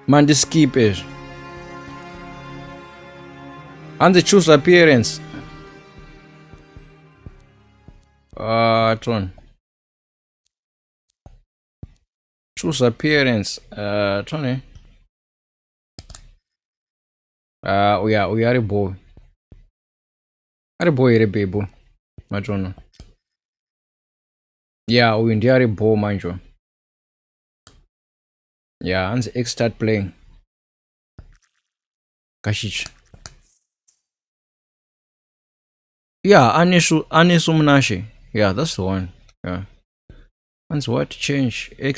mandiskip ezvo hanzi choose appearance uh, ton choose appearance uh, tone eh? uh, uya uya ari bho ari bho here bhebho matono yeah uyu ndiye ari bho manje yeah hanzi x start playing kashitsva yeah anesu anesu munashe yeah that's the one yeah hanzi what change x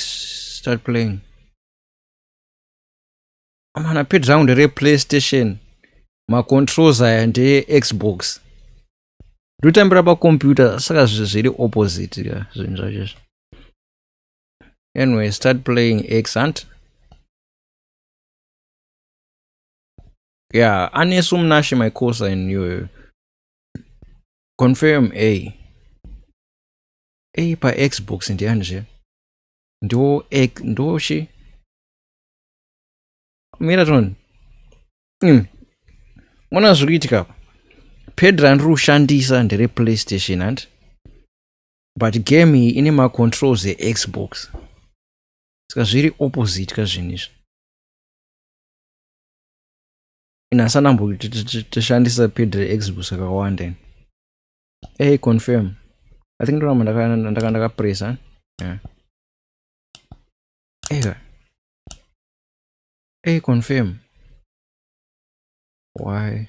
start playing amana pedround replaystation macontrols aya ndeye xbox ndotambira pacomputer saka zviri opposite ka zvinhu zvacho izvi anyway start playing x hunt yeah anesu munashe my course in you confirm a a pa xbox ndiyani zve ndo ndochi mira toni mm. mona zviri kuitika apa pad randiri kushandisa ndere playstation handi but game iyi ine macontrols exbox saka zviri opposite ka zvinhu izvi inasanambo tishandisa pad reexbox kakawanda ini hey confirm i think ndoramba ndakandakapresa ndaka, ndaka yeah. Ega. Hey, confirm. Why?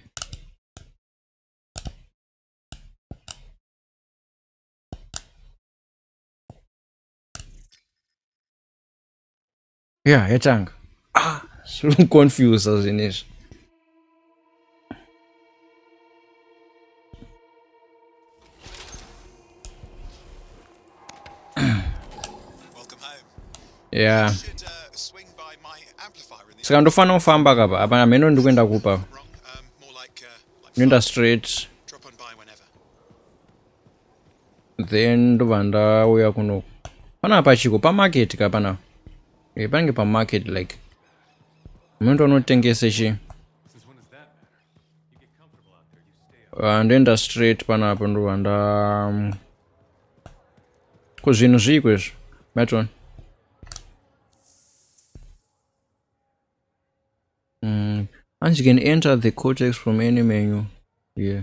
Yeah, yatanga. Ah, zvinondiconfusa zvinezvi. yeah saka ndofana kufamba kapa apa hameno ndi kuenda kupa um, ndoenda straight then ndobva ndauya kunoku panapa chiko pamarket ka panapa eh, panenge pamarket like Mendo anotengese chi? Ah, ndoenda straight panapa ndova nda mm, ko zvinhu zviiko izvo matron mm. and you can enter the cortex from any menu yeah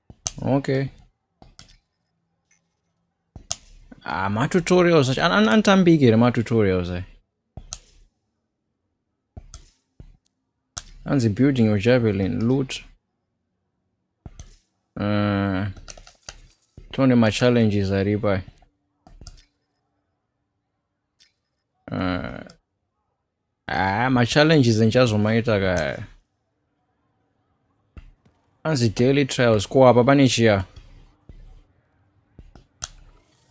okay ah, matutorials acho anotambiki here matutorials ayo anzi building your javelin loot uh, tione machallenges aripo ayo Uh, ah, machallenges enchazomaita kaya anzi daily trials ko apa pane chiya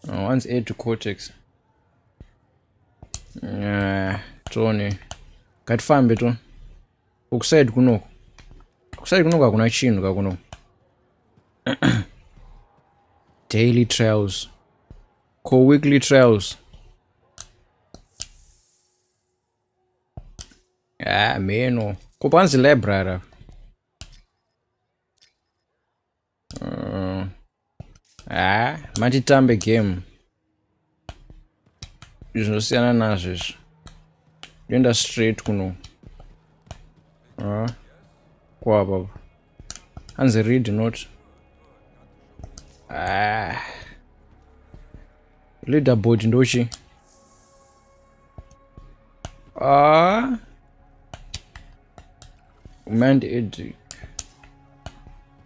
uh, anzi aid to cortex uh, tone ngatifambe to ukusaidi kunoko kusaidi kunoko hakuna chinhu kakunoko daily trials Ko weekly trials. Ah, meno. Ko panzi library. Uh, ah, matitambe game. Zvinosiyana nazvo izvi. Ndoenda straight kuno. Ah, kwapapa. hanzi read not ah. leaderboard ndochi ah. mand edric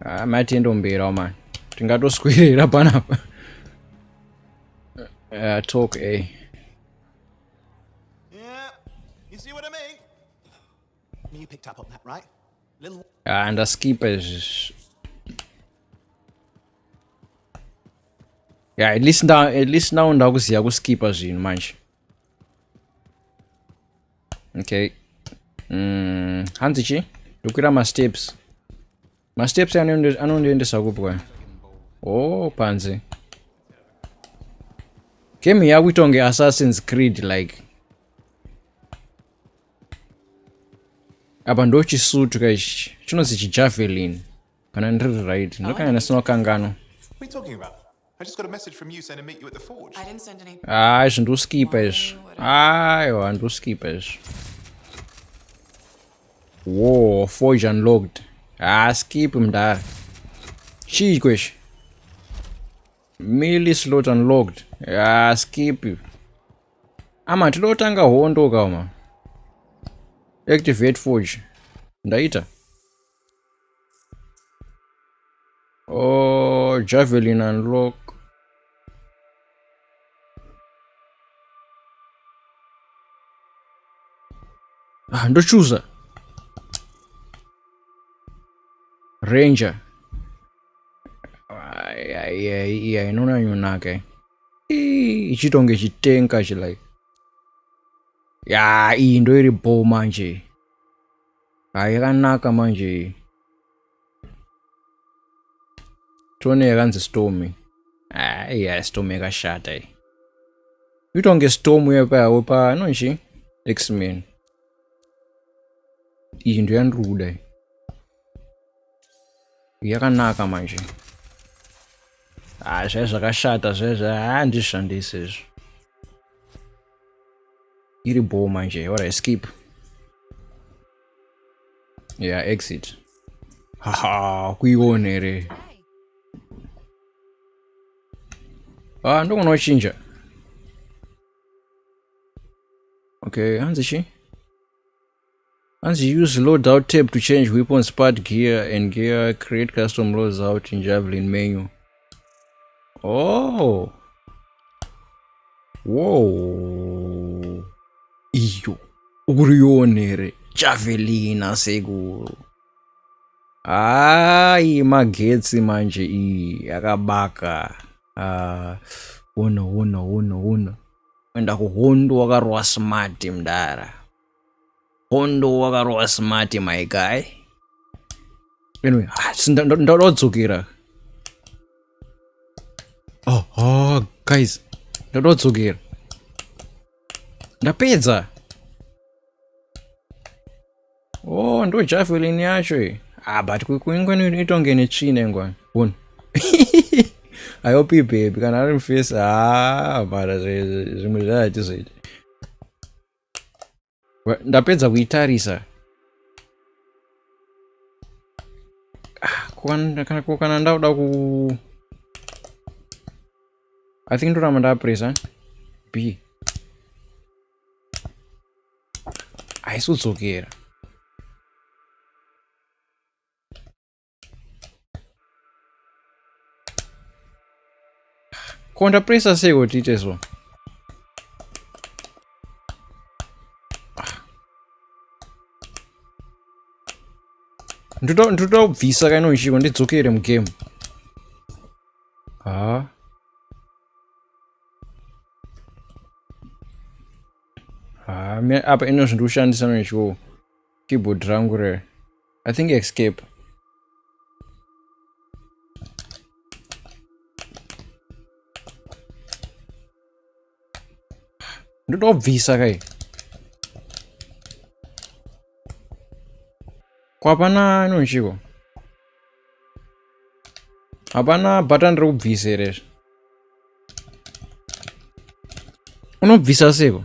ah, mati endomberawo mani tingatoswerera panapa uh, talk a eh. yeah. you see what I mean? Ah, ndaskipa izvi yeah, at least now, at least now ndakuziva kuskipa zvinhu manje okay mm, hanzi chi ndokwira masteps masteps anondiendesa kupi kwayo o oh, panze game yakuita kunge assassins creed like apa ndo chisutu ka ichi chinonzi chijavelin kana ndiri right ndokanyana sinokanganwa I just got a message from you saying to meet you at the forge. I didn't send any. Ah, izvi ndoskipa izvi. Aiwa, ndoskipa izvi. Whoa, forge unlocked. Ah, skip mdara. Chii kweshe? Millie slot unlocked. Ah, skip. Ama, tinoda kutanga hondo kauma. Activate forge. Ndaita. Oh, javelin unlock. Ah, ndochuza. Ranger. Yeah, inona yunake. Ichitonge chitenka chi like. Ya, iyi ndoiri bho manje. hairanaka manje iyi tione yakanzi stomi aiya stomi yakashata iyi itonge stomi uye payawo pa nonchi xman iyi ndo yandiri kuda iyi yakanaka manje ha zvai zvakashata zvezve handishandisi izvo iri bhoo manje ora skip ya yeah, exit haha kuiona here ah ndogona wachinja okay hanzi chii Hanzi use load out tape to change weapons part gear and gear create custom loads out in javelin menu. Oh. Whoa. Iyo. Urionere. Javelin asekuru. Hayi magetsi manje iyi yakabaka. Ah. Wona wona wona wona. Enda kuhondo wakarwa smart mdara. Hondo wakarova smart my guy. Anyway, ah, ndodzokera. Oh, oh guys, ndodzokera. Ndapedza. Oh, ndo javelin yacho iyi. Ah, but kuingwani itonge netsvina ingwani. One. I hope you baby kana ari mfesi ah mara zvimwe zvatizoita ndapedza kuitarisa ah, ko kana ndauda ku i think ndoramba ndapresa b haisi kudzokera ko ndapresa sei kuti ite so ndoda kubvisa kaino ichiko ndidzokere mugame ha ha apa ino zvindikushandisa noichiko keyboard rangu rere I think escape. Don't obvious, okay. Kwapana no nchiko. Hapana button ro obvious ere. Unobvisa seko.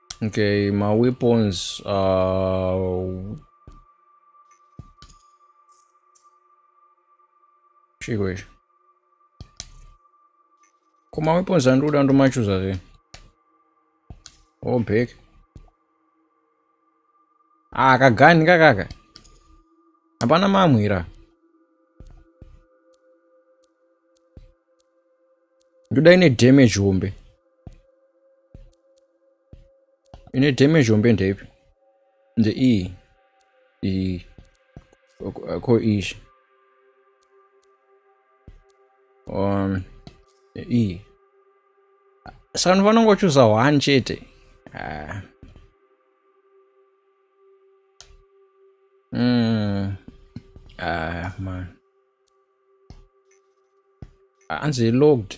Okay, my weapons are uh, chiko ichi ko maweapons andikuda ndomachuza zve obek ah kagani kakaka hapana mamwira ndoda ine damage hombe ine damage hombe ndeipi the e e ko ish um e sanu vanongochuza one chete ah. mm. ah, man hanzi ah, logged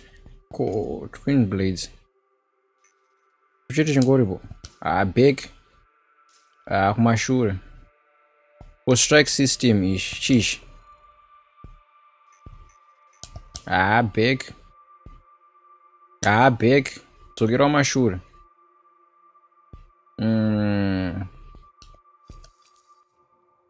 ko twin blades kuchete chingoripo ah, back ah, kumashure ko strike system ichi chichi ah, back ah, back dzokera kumashure mm.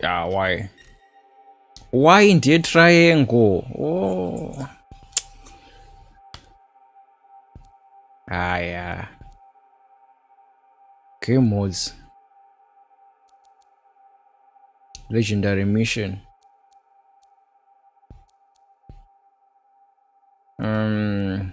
ya ah, why why ndiye triangle oh. haya game modes legendary mission um,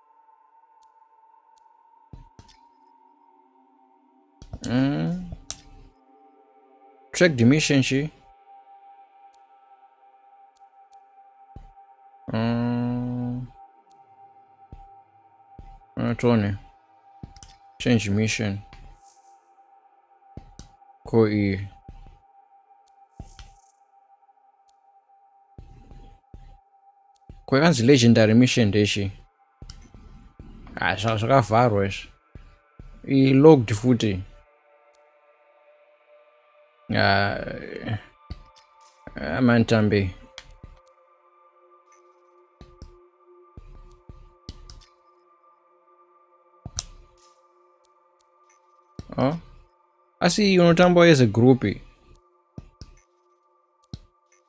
Mm. Track dimension shi. Mm. Uh, Tony. Change mission. Ko iyi. kwakanzi legendary mission ndezvi ah, zvanga zvakavharwa izvi ilogged futi ah, ah, mantambi oh. asi unotamba as a group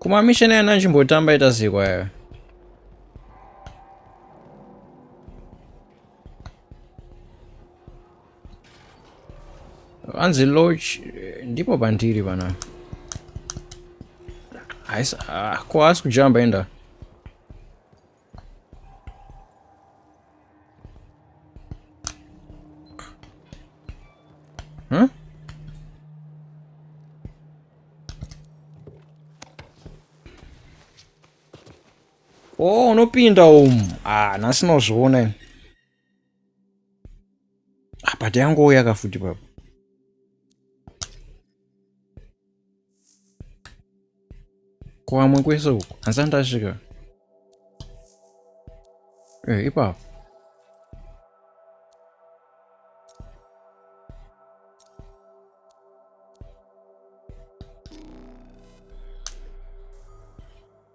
kumamisheni ayana nchimbotamba ita zikwa yayo hanzi loch ndipo pandiri pana haisi ah, ko haasi kujamba enda Hmm? Oh, unopinda umu. Ah, nhasi nozviona ini. Apa ah, tiyangouya kafuti papo. Kwamwe kwese uko hanzi andasvika eh, ipapo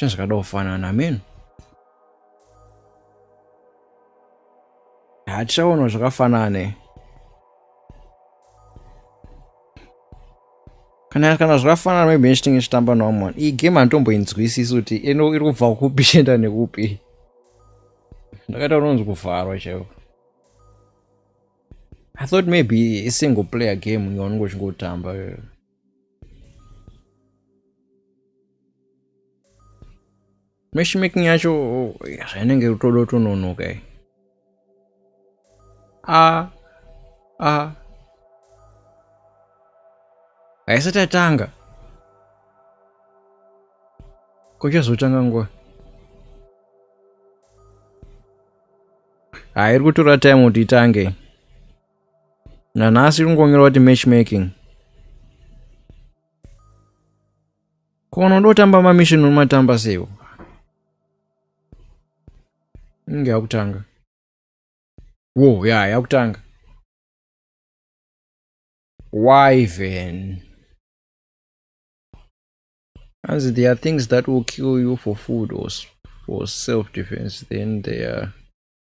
zvinhu zvakada kufanana amen hatichaona zvakafanane kana kana zvakafanana maybe nechitinge chitamba noamon iyi game handitomboinzwisisi kuti ino iri kubva kupi chienda nekupi ndakaita unonzi kuvharwa chaivo i thought maybe isingle player game yaunenge uchingotamba matchmaking yacho zvainenge rutodo tononoka i a a haisati yatanga kochazotanga nguva hairi kutora time kuti itange nanhasi iri kungongerwa kuti matchmaking kono ndotamba mamission unomatamba seiwo inge yakutanga wo ya yakutanga wyven hanzi there are things that will kill you for food or, or self defense then there are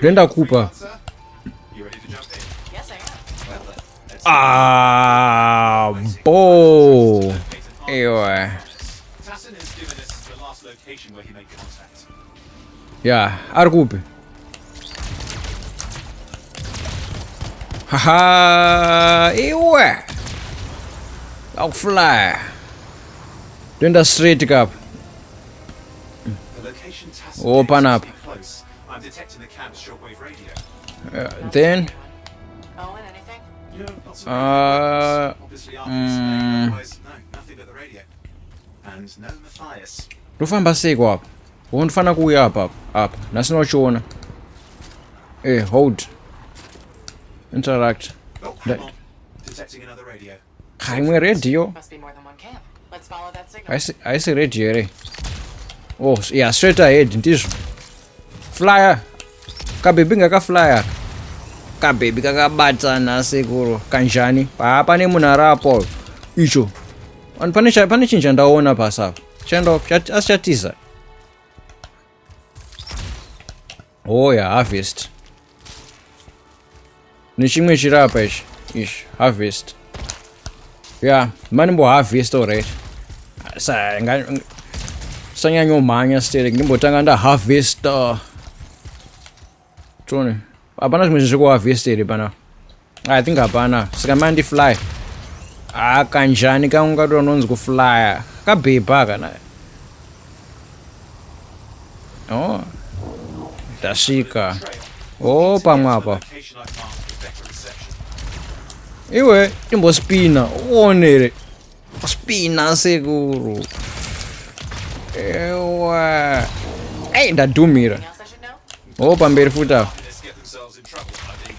Brenda Cooper. Ah, ball. Ewa. Yeah, ari kupi? Haha, iwe. Akufly. Twenda straight kapa. open up uh, then uh, mm, ndofamba seiko apa wo ndifanira kuuya apa apa nhasi nochiona e eh, hold interact imwe radio haisi radio here oh yeah straight ahead ndizvo flyer kabebi ngakaflyer kabebi kakabatana sekuru kanjani paa pane munhu ari apo icho pane chinhu chandaona pasi apo asi chatiza Hoya oh, harvest. Nechimwe chiri apa ichi. Ish, harvest. Yeah, mani mbo harvest already. Sa nga sanyanyo manya stere ngimbotanga nda harvest. Uh, Tone. Hapana zvimwe zvinhu zvekuharvesta here pana I think hapana sika mandi fly ah kanjani kangu kato anonzi kuflya kabhebha kana oh ndasvika oh pamwe apa iwe timbospina uonere spina sekuru ewa ei ndadhumira Oh, pamberi futi apo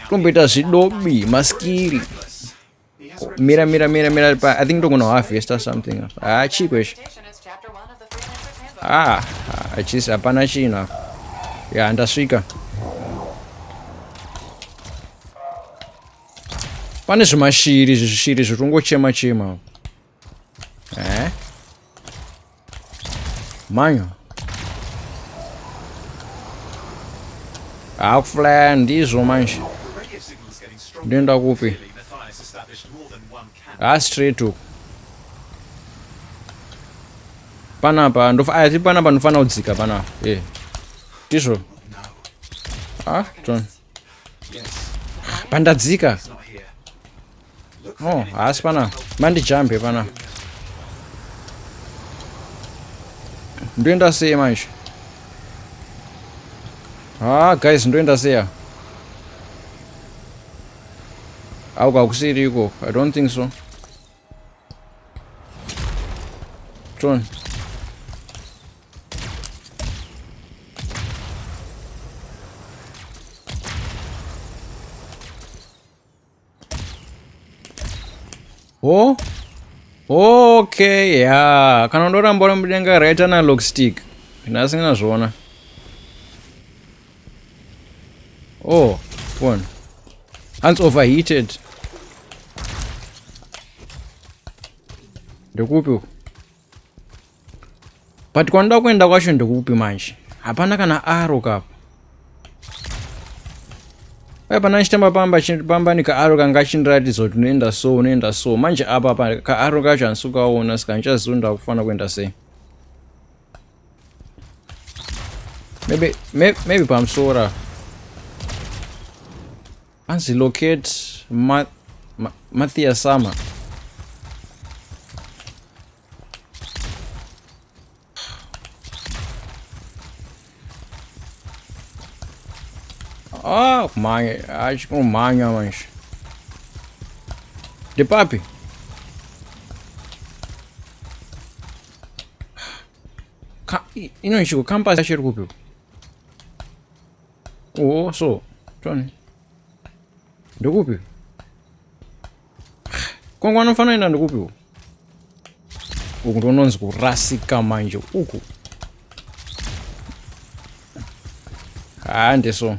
tomboita zvidobi maskiri mira mira mira mira pa i think togona harvesta something apa ah chii kweshe ah achisi ah, hapana chinhu apa ya ndasvika pane zvimashiri zvishiri zvitongochema chema apa Eh? Manyo. Akuflaya ndizvo manje. Ndoenda kupi? Ah, straight uku. Panapa ndofa ah, panapa ndofana kudzika panapa. Eh. Ndizvo. Ah, John. pandadzika oh haasi pana mandijambe pana ndoenda sei manje ha ah, guys ndoenda seya au kakusiri iko i don't think so tron Oh. Okay, yeah. Kana ndoramba uri mudenga right analog stick. Nhasi ndinazviona. Oh, phone. Hands overheated. Ndikupi uku? but kwandida kuenda kwacho ndekupi manje hapana kana aro kapo ai pana ndichitamba pamba pamba nikaaro kanga achindiratidza kuti unoenda so unoenda so manje apa pa kaaro kacho handisi kukaona saka ndichaziva ndakufanira kuenda sei maybe maybe pamusora Anzi locate ma, ma, Mathias Sama. Ah, kumhanya, acho kumhanya manje. De papi? Ka, ino ichiko campus yacho iri kupi? Oh, so. Tony. Ndokupi? Kongo anofanira enda ndokupi uku? Uku ndononzi kurasika manje uku. Hande so.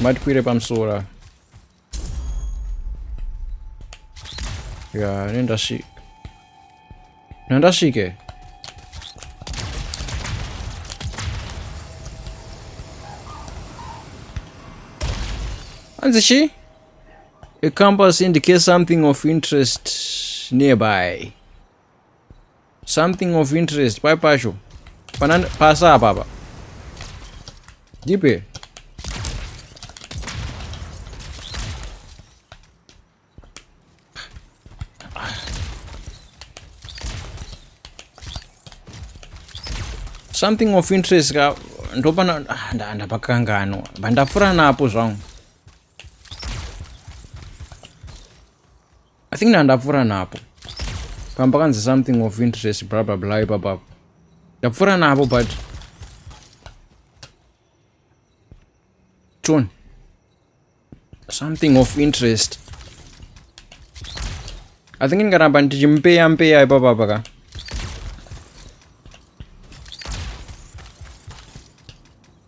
Matikwire pamusoro. ya ini ndasvika no ndasvike hanzi chii a compass indicates something of interest nearby Something of interest pai pacho pana pasa apa apa ndipe something of interest ka ndopana ah, ndapakanganwa vandafura napo zvangu I think ndandapfura napo pamba kanzi something of interest bla bla bla ipapapo ndapfura napo but tone something of interest i think ndingaramba ndichimpeya mpeya ipapapa ka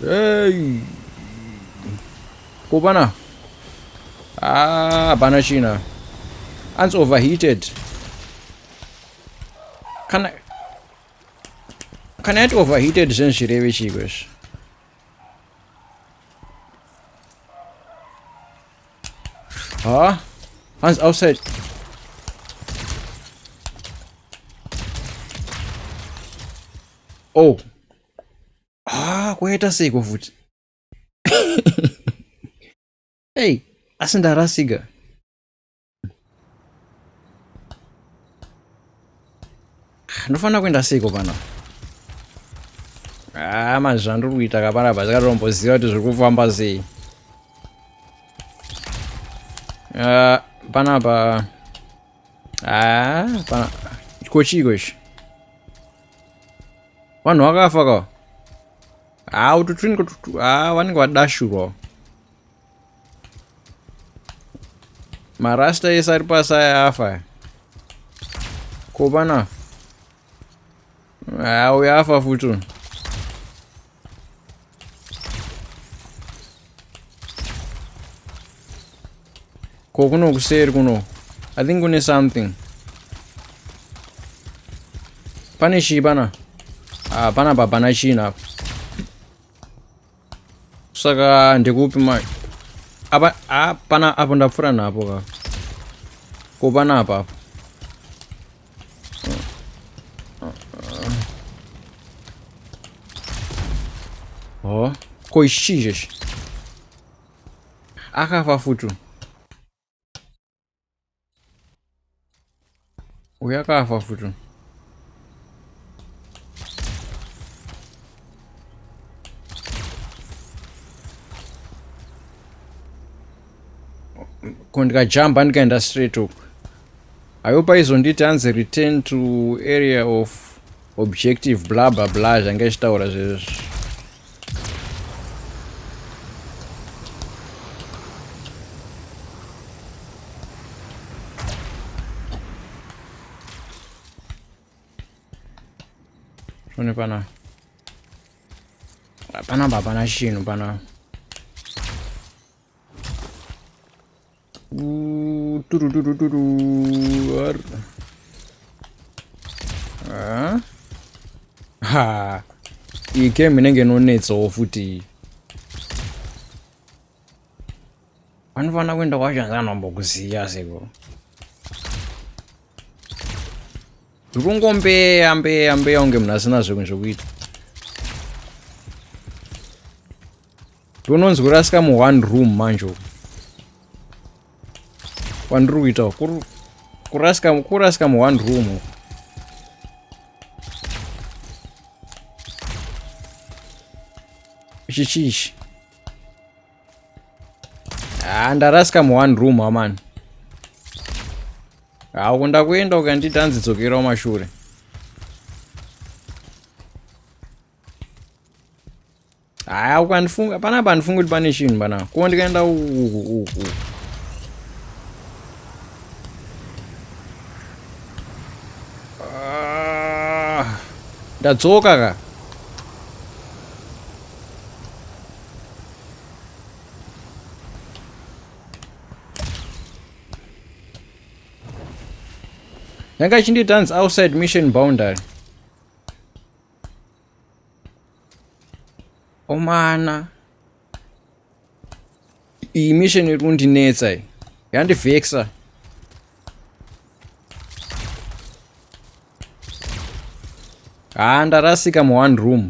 Hey. Kupana. Ah, hapana china. Anzi overheated. Kana kana yati overheated zvinhu zvirevi chiko izvi. Ha? Hands outside. Oh, ah kwaita seiko futi hey asi ndarasika ndofanira kuenda seiko pano haa ah, manje zvandiri kuita kapana pa zakatomboziva kuti zviri kufamba sei ah, panapa haa ah, pana kochiiko ichi vanhu vakafa ka haa ah, ututwini haa ah, vanenge vadashurwa marasta ese ari pasi aya afa aya ko vana haa ah, uyo afa futi ko kuno kuseri kuno i think kune something pane chii pana ah, pana pa pana china apa saka ndikupi ma apa ah, pana apo ndapfura napo ka ko pana apa apo Oh, ko ichi chechi akafa futi uyu akafa futi ko ndikajamba ndikaenda straight uku ayo paizonditi hanzi return to area of objective bla bla bla zvange ichitaura zvezvo one pana hapana hapana chinhu pana ha iyi game inenge inonetsawo futi iyi vanofanira kuenda kwacho hanzi anombokuziya seko tiri kungombeya mbeya mbeya unge munhu asina zvekunzvekuita Ndononzwira sika mu one room manje uku. Kwandiri kuita kuri kurasika kurasika mu one room uku. Ichi chichi. Ah, ndarasika mu one room amani. Ah, uko ndakuenda ukanditi hanzi dzokera kumashure. haya ukandifunga panapa handifungi kuti pane chinhu panapa kuwo ndikaenda uku ah, ndadzoka ka yanga ichindiita hanzi outside mission boundary omana iyi mission iri kundinetsa iyi yandivheksa haa ndarasika mu one room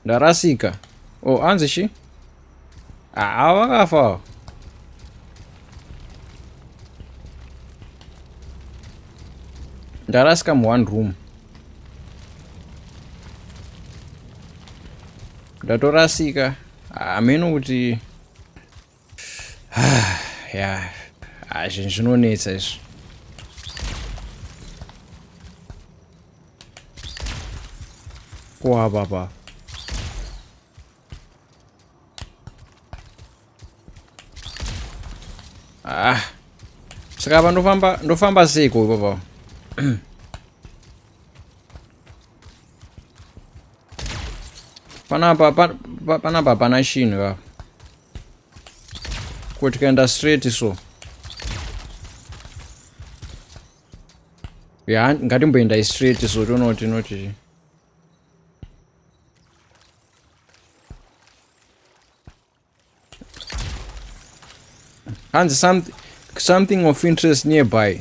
Ndarasika. Oh, hanzi chi? Ah, vakafa. Ndarasika mu one room. Ndatorasika. Hameno ah, kuti yeah. Ah, zvinhu zvinonetsa izvi kuwa papa ah saka apa ndofamba ndofamba sei ko papa panapa panapa pana chinhu papa Ko tikaenda straight so. Ya, ngatimboenda straight so toona kuti inoti. Hanzi something something of interest nearby.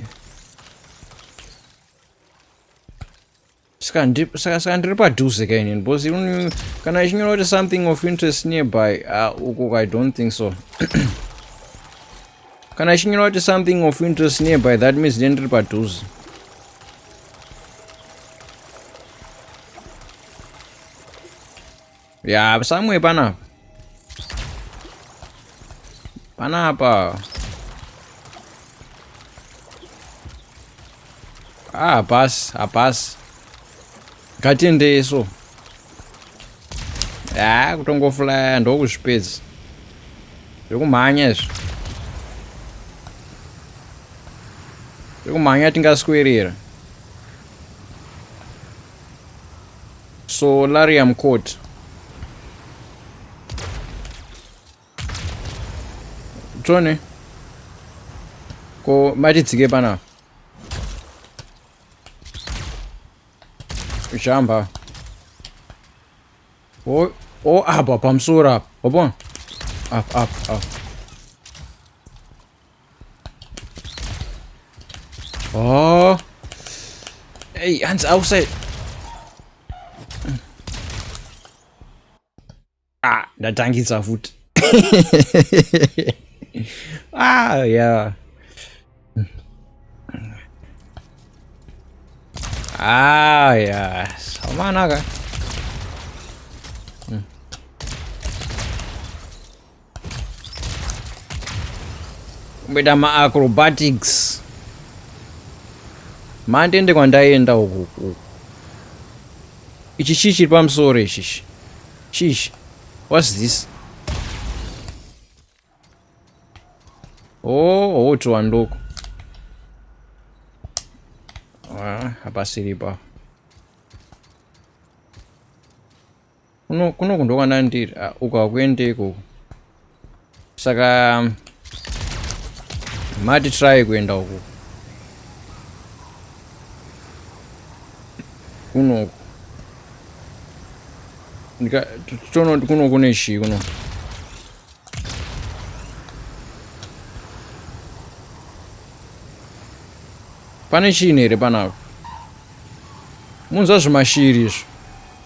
Saka ndri- saka saka ndiri padhuze ka inini because mm, kana ichinyora kuti something of interest nearby ah, uko ka i don't think so kana ichinyora kuti something of interest nearby that means then ndiri padhuze ya samwe panapa panapa ah pass hapasi ngatiendei so ya ah, kutongofulaya ndokuzvipedza zvekumhanya izvi zvekumhanya tingaswerera Solarium court. Tone. Ko matitsike pana. Jamba. Oh, oh apa pamusoro apa. Wabona? Up up up. Oh. Hey, hands outside. Ah, ndatangisa futi. ah, yeah. Ah, yeah. Sama naga. Hmm. kumboita maacrobatics mandende kwandaenda uku uku ichi chii chiri pamusoro ichichi chichi whats this oh oh tuwanduko ah, hapasiripo ah, kuno kuno kundo kwana ndiri ah, uko hakuende ikoko saka mati try kuenda uko kunoku tonoti kuno kune chii kuno pane chiini here panapo munzwa zvimashiri izvo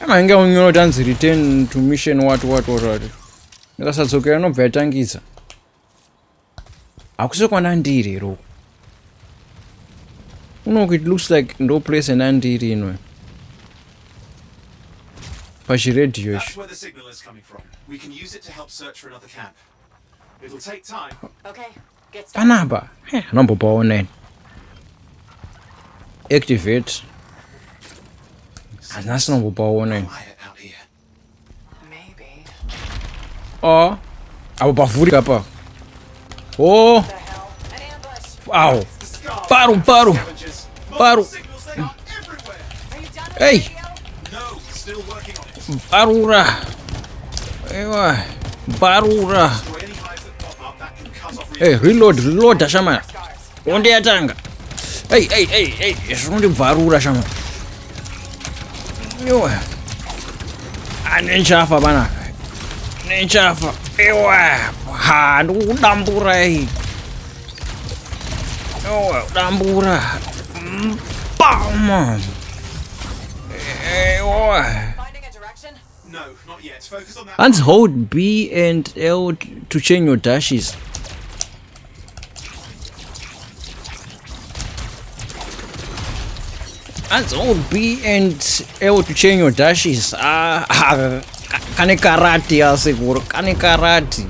Anenge unyoro tanzi return to mission what what what what. Ndikasadzokera nobva yatangisa. Hakusi kwana ndiri ro. Unoku it looks like ndo place ena ndiri inwe. Pachiredhiyo ichi. It'll take time. Okay. Panapa anombopaoneni activate hazina sinombopaoneni o apo pavhurika apa o awo paru paru paru ei parura ewa parura Hey, reload, reload, Shama. Onde yatanga. Hey, hey, hey, hey, zvondi bvarura Shama. Yowa. Ane nchafa bana. Ne nchafa. Ewa. Ha, ndikudambura hey. Yowa, dambura. Bam. Ewa. Hands hold B and L to change your dashes. Hands hold B and L to change your dashes. Ah, ah kane karati asekuru kane karati.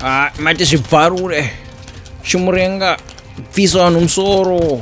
Ah, mati zvibvarure. Chimurenga bvisa vanhu musoro.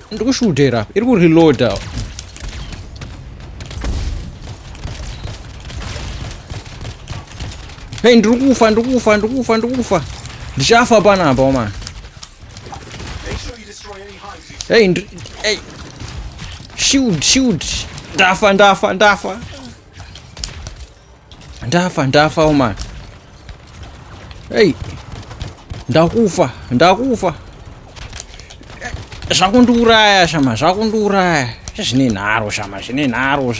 Ndiri kushudhera, iri kureloader. Hey, ndiri kufa, ndiri kufa, ndiri kufa, ndiri kufa. Ndichafa panapa, oh man. Hey, ndiri... Hey. Shield, shield. Ndafa, ndafa, ndafa. ndafa ndafa omani hei ndakufa ndakufa zvakundiuraya shama zvakundiuraya zvine nharo shama zvine nharo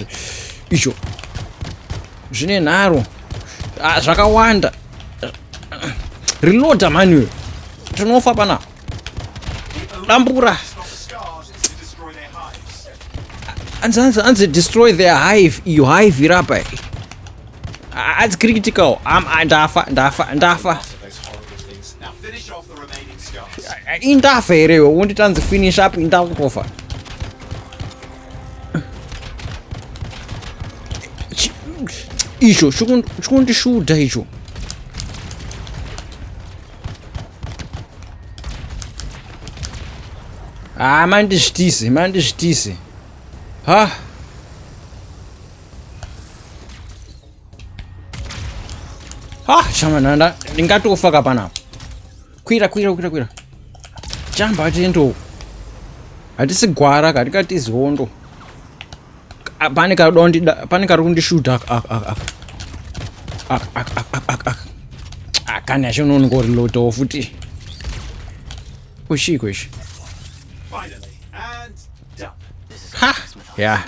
izvo zvine nharo ah, zvakawanda reloader manual tinofa pana dambura anzi anzi anzi destroy their hive iyo hive irapa adzi critical am ndafa ndafa ndafa indafa here iwe wonditi anzi finish up indakutofa icho chikundishuda icho Ah, mandizvitise, mandizvitise. Ha. Ha, chama nanda, ndingati kufaka pana. Kwira, kwira, kwira, kwira. Jamba atendo. Hatisi gwara, katikati zihondo. Ah, pane kadondida pane kari kundishuta akani acho unonongorilotawo futi kushiko ichi ha ya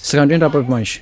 saka ndoenda papi manje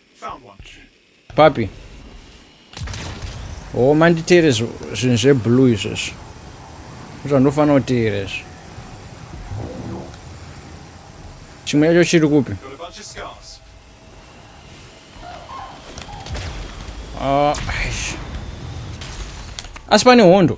Papi? Oh, manditeere zvinhu zveblue izvozvo. Zvandofanira kuteera izvo. Chimwe yacho chiri kupi? Ah, asi pane hondo.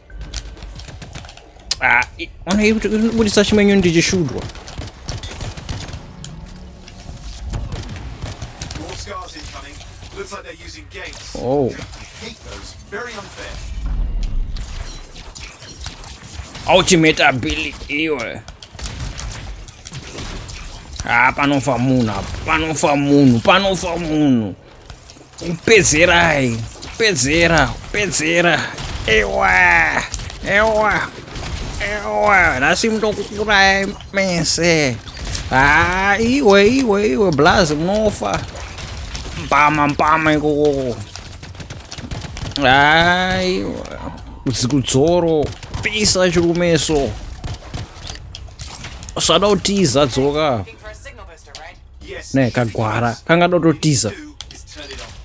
Ah, ona iri kubudisa chimenyu ndichishudwa Oh. Ultimate ability hiyo. Ah, panofa munhu apa, panofa munhu, panofa munhu. Pedzerai, pedzera, pedzera. Ewa, ewa, ewa. Nhasi munokukurai mese. Ah, iwe, iwe, iwe, blazi munofa. Mpama, mpama ikoko. Ah, iwe. Dzikudzoro, pisa chirumeso. Sada utiza dzoka. ne kagwara kanga dototiza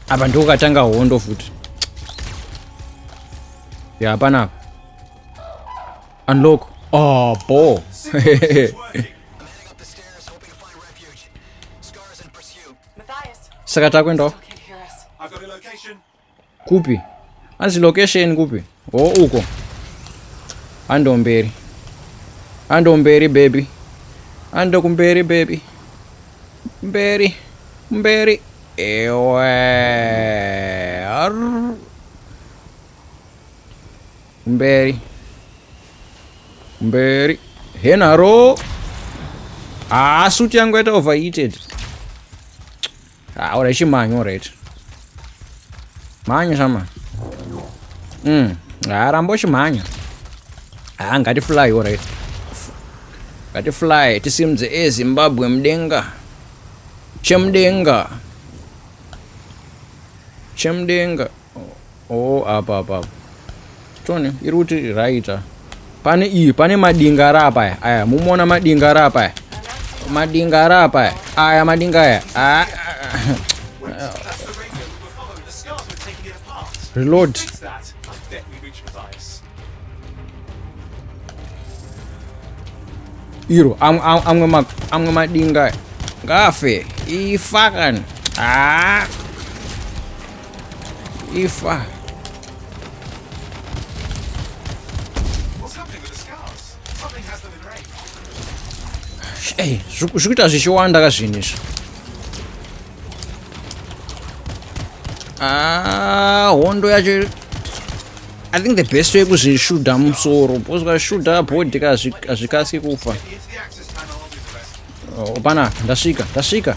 apa ndiko katanga hondo futi ya hapana apa unlock oh bo saka takuendawo I've got a location. Kupi? Hanzi location kupi? Ho oh, uko. Hando mberi. Hando mberi baby. Hando kumberi baby. Mberi. Mberi. Ewe. Arr. Mberi. Mberi. Henaro. Ah, suit yangu yata overheated. Ah, ora chimanyo alright. Manya shama. Mm. Ah, rambo chimanya. Ah, ngati fly alright. Ngati fly tisimudze e Zimbabwe mdenga. Chemdenga. Chemdenga. oh apa apa apa tone iri kuti raita pane iyi pane madinga ari apa aya aya mumoona madinga ari apa aya madinga ari apa aya aya madinga aya ah, reload iro amwe madinga ngafe ifakani ah. Ifa. Hey, zvikuita zvichiwanda ka zvinhu izvi. Ah, hondo yacho I think the best way kuzvishuda musoro because ukashuda body hazvikasi kufa. Oh, pana ndasvika, ndasvika.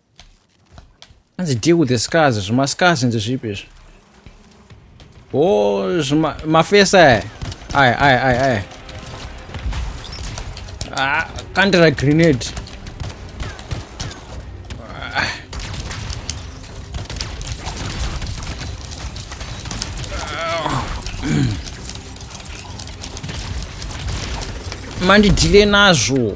hanzi deal with the scars zvimascars nzi zvipi izvi o mafesi aya aya aya aya aya ah, kandira grenade ah. mandidhile nazvo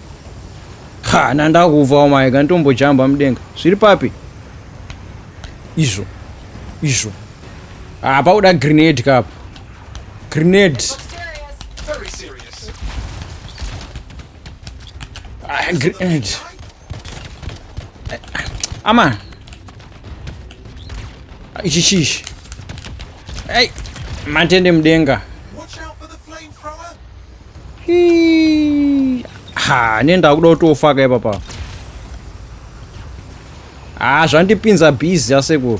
ha nandakuvawo mai kanditombojamba mudenga zviri papi izvo izvo hapa uda grenade kapo grenade ah, grenade ama ah, ah, ichi chishi ei matende mudenga ha ne ndakuda kutofaka ipapa ha zvandipinza busy asekuru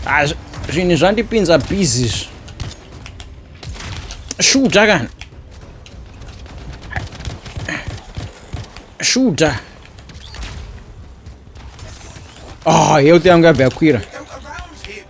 ha zvinhu zvandipinza busy izvi shuta kana shuta ah health yangu yabva yakwira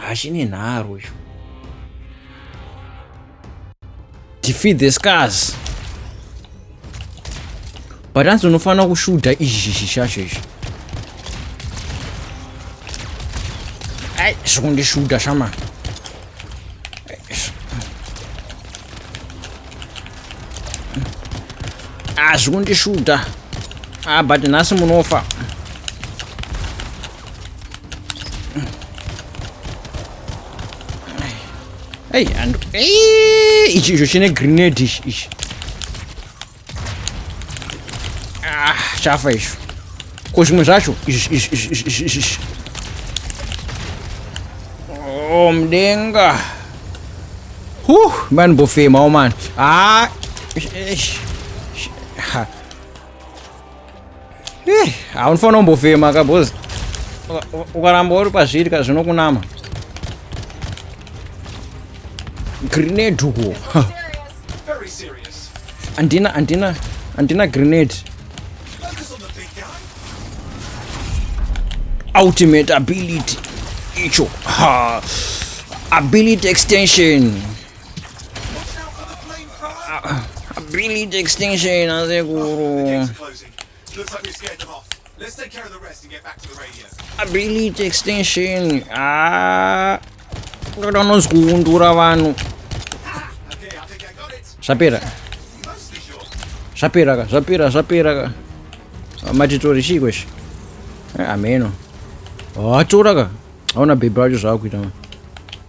hachine nharo icho defeat the scars but hanzi unofanira kushuda izvi zvishacho izvi ai zvokundishuda shama ah, zvokundishuda ah, but nhasi munofa Hey, and hey, ichi icho chine grenade ichi ichi. Ah, chafa icho. Ko zvimwe zvacho ichi ichi ichi ichi ichi. Oh, mdenga. Huh, man bofema, oh man. Ah, ish, ish. Ha. Eh, haunofanira kumbofema ka bos ukaramba uri pazviri ka zvinokunama grenade uko andina andina andina grenade ultimate ability icho ha ability extension Ability extinction asekuru. Ability extinction. Ah. Ngoda unozikuundura vanhu. Zvapera. Zvapera ka, zvapera, zvapera ka. Matitori chii kweshe? Eh, ameno. Watora ka. Hauna bhebhi racho zvaakuita manje.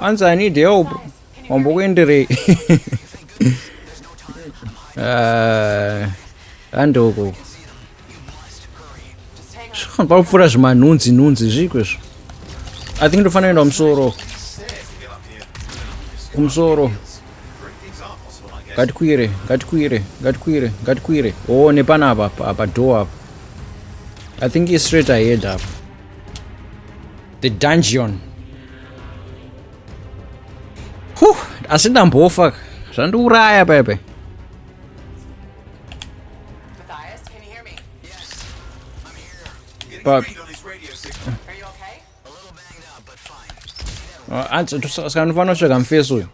Anzi I need help. Wambokuenderei. Ah, handoko. Pakupfuura zvimanhunzi nhunzi zviko izvo. I think ndofanira kuenda kumusoro. Kumusoro. ngatikwire ngatikwire ngatikwire ngatikwire oo oh, nepana apa apa door apa i think i straight ahead apa the dungeon huh asi ndambofa zvandiuraya pepe but saka ndinofanira kutsvaga mufesi uyu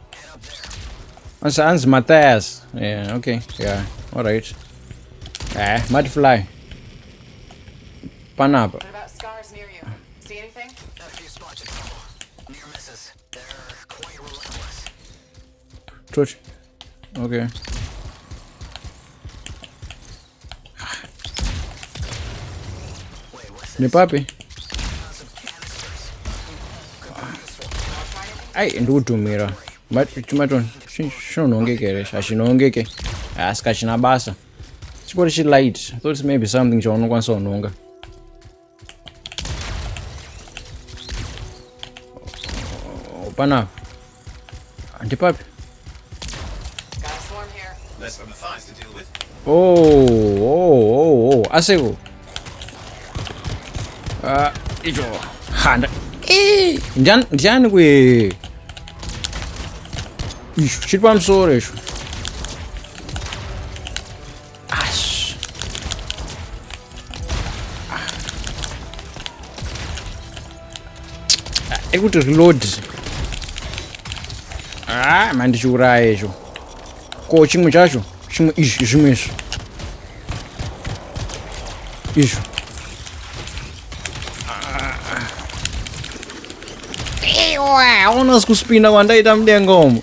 hanzi mathias yeah, okay yeah alright eh mati fly panapa Okay. Ni papi? Ai, ndi kutumira. Chuma chon, chinonongeke here? Hachinongeke. Asi kachina basa. Chipori chi light. I thought maybe something chaunokwanisa kunonga. Pana. Antipapi. Oh, oh, oh, oh. Asego. Ah, ijo. Handa. Eh, ndian ndian ku. Ish, shit pam sore ish. Ash. Ah. Ah, ekuti reload ah, mandichiuraya izvo ko chimwe chacho chimwe izvi zvimwe izvo izvo aona sikuspinda kwandaita mudenga umo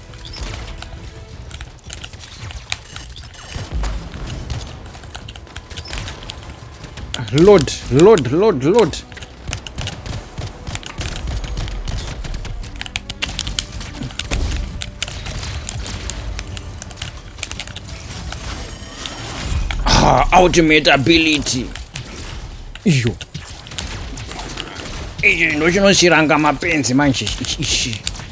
Load, load, load, load. Ah, ultimate ability. Iyo. Ichi ndochinoshiranga mapenzi manje ichi.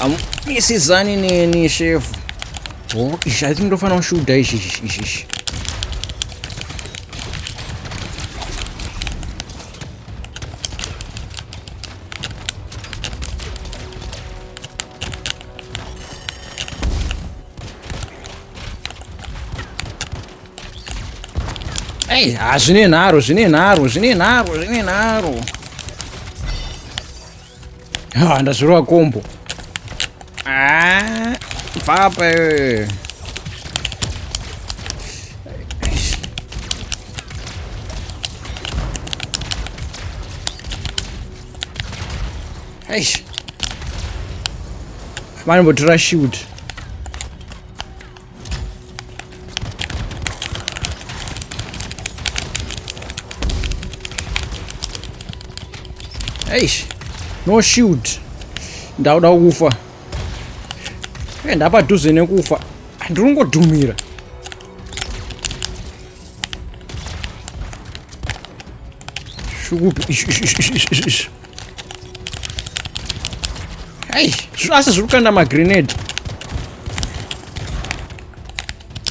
amisidzani neni shefu oh, izvi i think ndofanira kushuda izvi izvi izvi izvi Ei, hazvine nharo, zvine nharo, zvine nharo, zvine nharo. ndazvirova kombo ah, papa eh. Eish. Manje botura shoot. eish no shield ndauda kufa e ndapadhuze nekufa andiringodhumira shukupi Ai, asi zviri kukanda magrenade.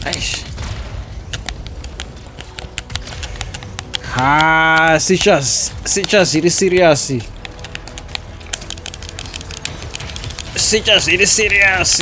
Aish. Ha, sichas, sichas iri serious. Sichas iri serious.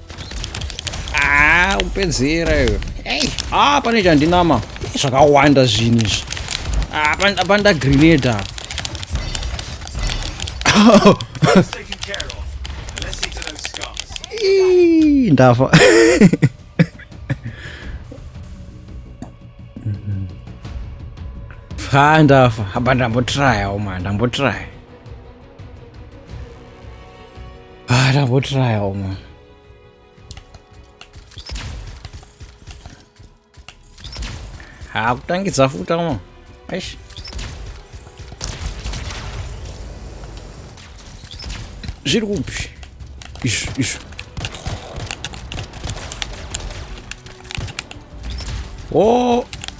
Ah, upedzera iwe. Hey, ah pane chandinama. Zvakawanda zvinhu izvi. Ah, panda grenade apa. Ndafa. Ha ndafa. Haba ndambotraya uma ndambotraya. Ah, ndambotiraya umwe. Hakutangidza ah, futa umwe. Eish. Zviri kupi? Izvi, izvi. Oh!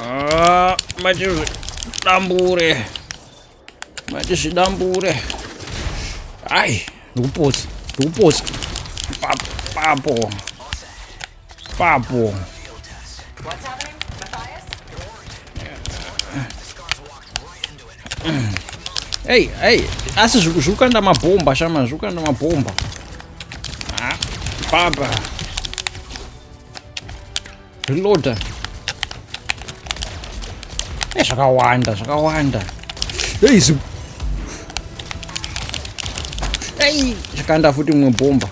Ah, matizvidambure matizvidambure hayi ndikupotsa ndikupotsa papo papo Hey, hey, asi zvukanda mabhomba shama, zvukanda mabhomba. Ah, baba. reloader e eh, zvakawanda zvakawanda ei zi ei zvakanda futi mumwe bhomba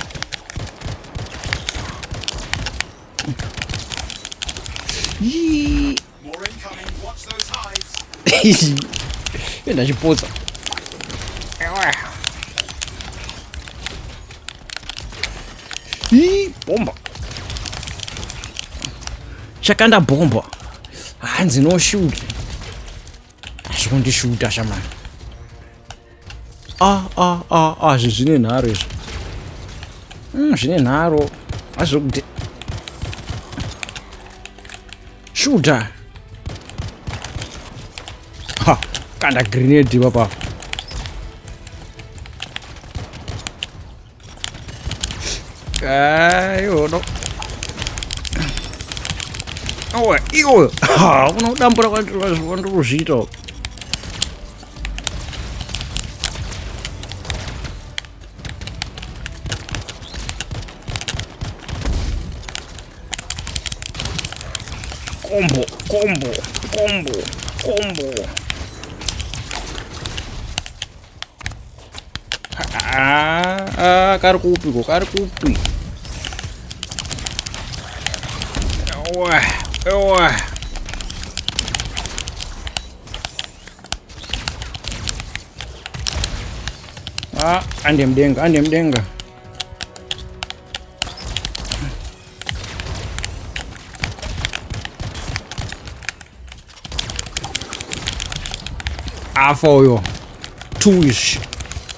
ndachipotsa Hii, bomba. Chakanda bomba. Hanzi no shoot. Zvondishuta shamani. Ah ah ah ah zvine nharo izvo. Mm, zvine nharo. Azvokuti Shuta. Ha, kanda grenade baba. Ayo no. Awa, iwe. Ha, unodambura kwandiri kwandiri kuzviita. Combo, combo, combo, combo. Ah, ah, kari kupi ko, kari kupi. Ewa, ewa. Ah, ande mdenga, ande mdenga. afa uyo two ish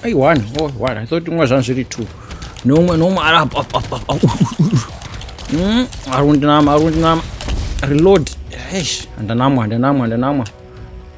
ai one oh one i thought umwe zvanhu zviri two nomwe nomwe ari apa apa apa apa mm, ari kundinama ari kundinama reload eish handanamwa handanamwa handanamwa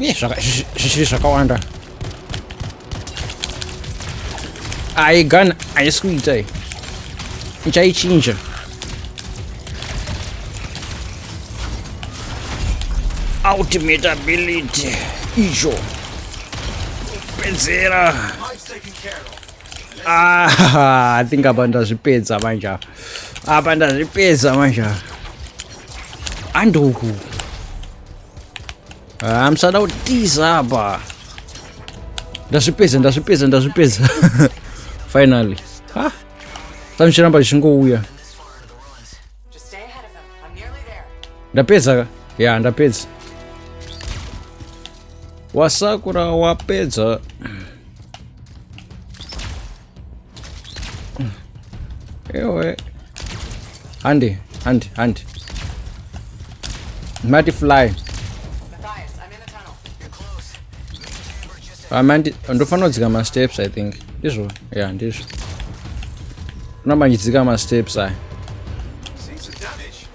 uye zvichiri zvakawanda ayi gun haisi kuita iyi ichaichinja ultimate ability icho kupedzera ah, i think apa ndazvipedza manje apa apa ndazvipedza manje andoku Ah, musada kutiza apa. Ndazvipedza, ndazvipedza, ndazvipedza. Finally. Ha. Sanchiramba chingouya. Ndapedza ka? Yeah, ndapedza. Wasakura wapedza. ewe handi handi handi mati fly amandi ah, ndofanira kudzika masteps i think ndizvo ya yeah, ndizvo unobandidzika masteps aya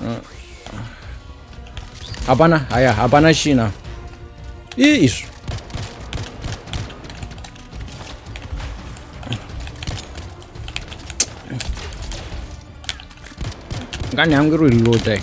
Mm. hapana haya hapana china ii izvo ngani hangu iri reloadai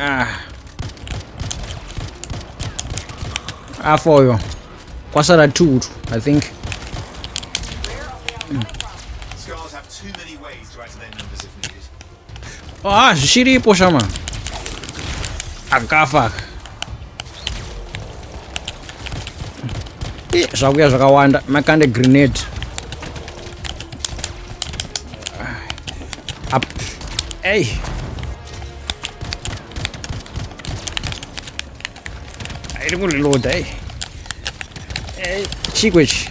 Ah. Afa uyo. Kwasara two I think. Ah, zvichiripo shama. Akafa. Eh, zvakuya zvakawanda makande grenade up hey iri kuriloda hey hey chikwechi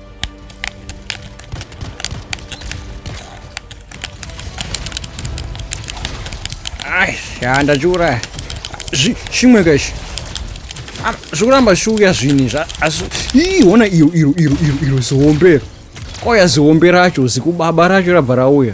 Ai, ya ndachiuraya. Zvi chimwe ka ichi. Ah, Zvikuramba zvichiuya zvinhi zva asi ii hona iro iro iro iro iro zihombero. Koya zihombe racho zikubaba racho rabva rauya.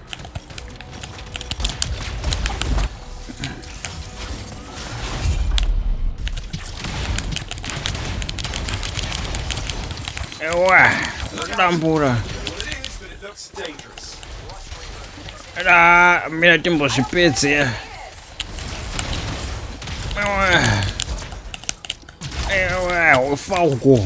Ewa, dambura. Era, mira timbo zvipedze. Ewa, ewa, ufa uko.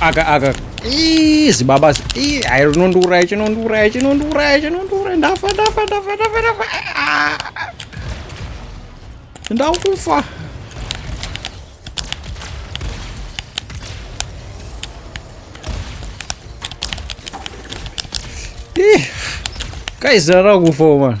aka aka zibaba ayi rinondiuraya chinondiuraya chinondiuraya chinondiuraya ndafa ndafa ndafa ndafa ndafa ndakufa Guys, I don't go for one.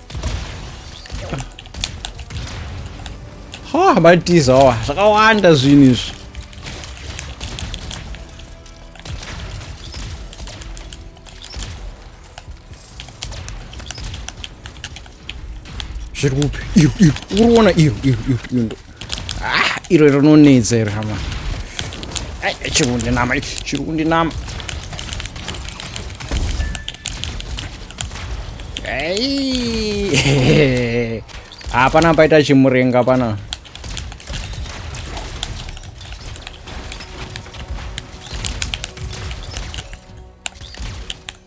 ha matiza awa zvakawanda zvinhu izvi zviri kupi iyo iyo uri kuona iyo iyo iyo iyo Ah, iro rinonetsa iri hama. Ai, chiri kundinama, chiri kundinama. Ai. Hapana ah, paita chimurenga pana.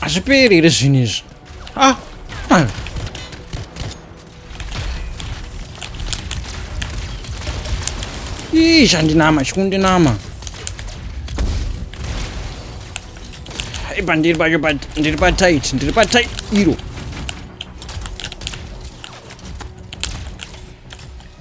hazviperi here zvinhu izvi ah, ah. ii chandinama chikundinama ipa ndiri pacho ndiri patit ndiri patit iro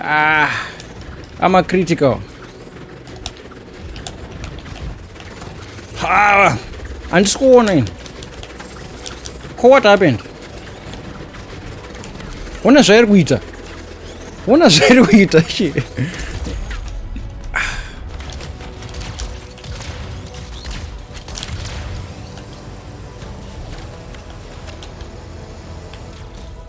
Ah, I'm a critical. Ah, andisi kuona ini. Ko what happened? Ona zvairi kuita. Ona zvairi kuita she.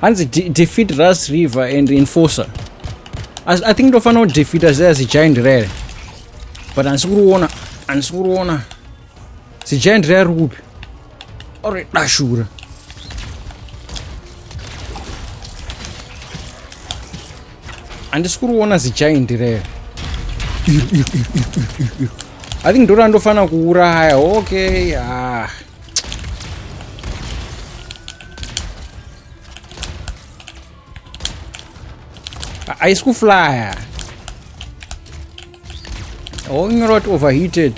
hanzi de defeat rust river and enforcer As, i think ndofanira kudefeata zviya zigiant rere but handisi kuriona handisi kuriona zigiant riya riri kupi ore dashura handisi kuri kuona zigiant rero i think ndori andofanira kuuraya okay ah. haisi kuflya onyora kuti overheated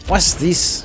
what's this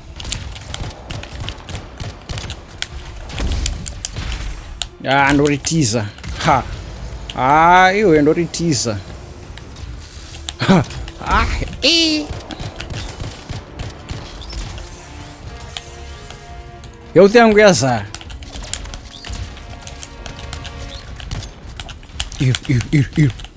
Ah, ndoritiza ha ah, iwe ndoritiza ha ah, e. health yangu yazara ir ir ir ir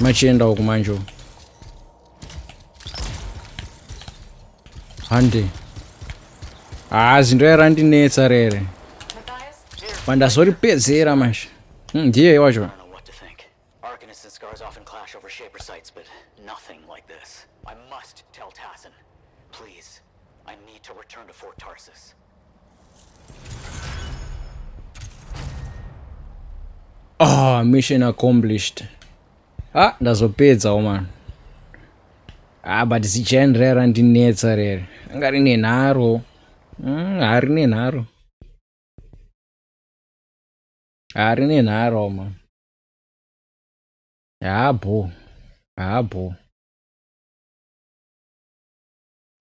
machienda uku manje hande haa zinto yarandinetsa rere pandazoripedzera manje hmm, ndiye wacho Ah, mission accomplished. Ah, ndazopedza woman. Ah, but zichani rere randinetsa rere. Anga rine nharo. Mm, harine nharo. Harine nharo woman. Habho. Habho.